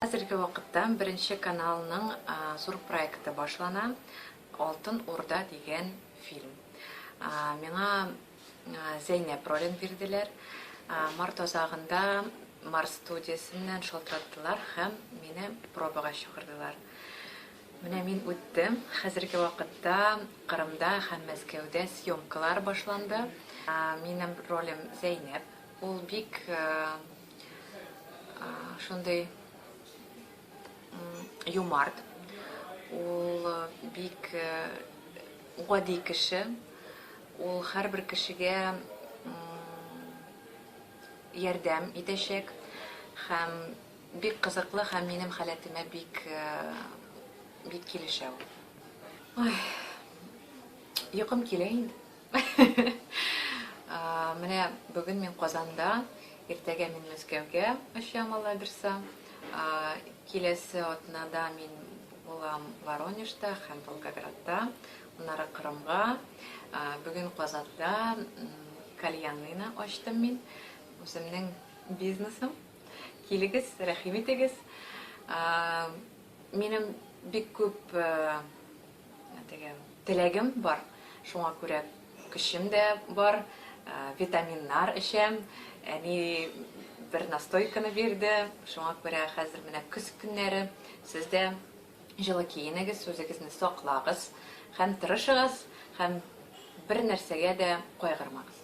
Хәзерге вакытта Беренче каналның зур проекты башлана, Алтын Урда дигән фильм. Миңа Зәйнәп ролен бирделәр. Март азагында Марс студиясеннән шалтыраттылар һәм мине пробага чакырдылар. Менә мин үттем. Хәзерге вакытта Кырымда һәм Мәскәүдә съемкалар башланды. Минем ролем Зәйнәп. Ул бик Шундый юмарт. Ул бик гади кеше. Ул һәрбер кешегә ярдәм итәчәк һәм бик кызыклы һәм минем халәтемә бик бик килешә ул. Ой. Йокым килә инде. Менә бүген мин Казанда, иртәгә мин Мәскәүгә очам Алла бирса. Киләсе атнада мин булам Воронежта һәм Волгоградта, аннары Кырымга. Бүген Казанда кальянныйны ачтым мин, үземнең бизнесым. Килегез, рәхим итегез. Минем бик күп Теге теләгем бар, шуңа күрә көчем дә бар, витаминнар эчәм. Әни бер настойканы бирде, шуңа күрә хәзер менә көз көннәре сез дә җылы киенегез, үзегезне саклагыз һәм тырышыгыз һәм бер нәрсәгә дә кайгырмагыз.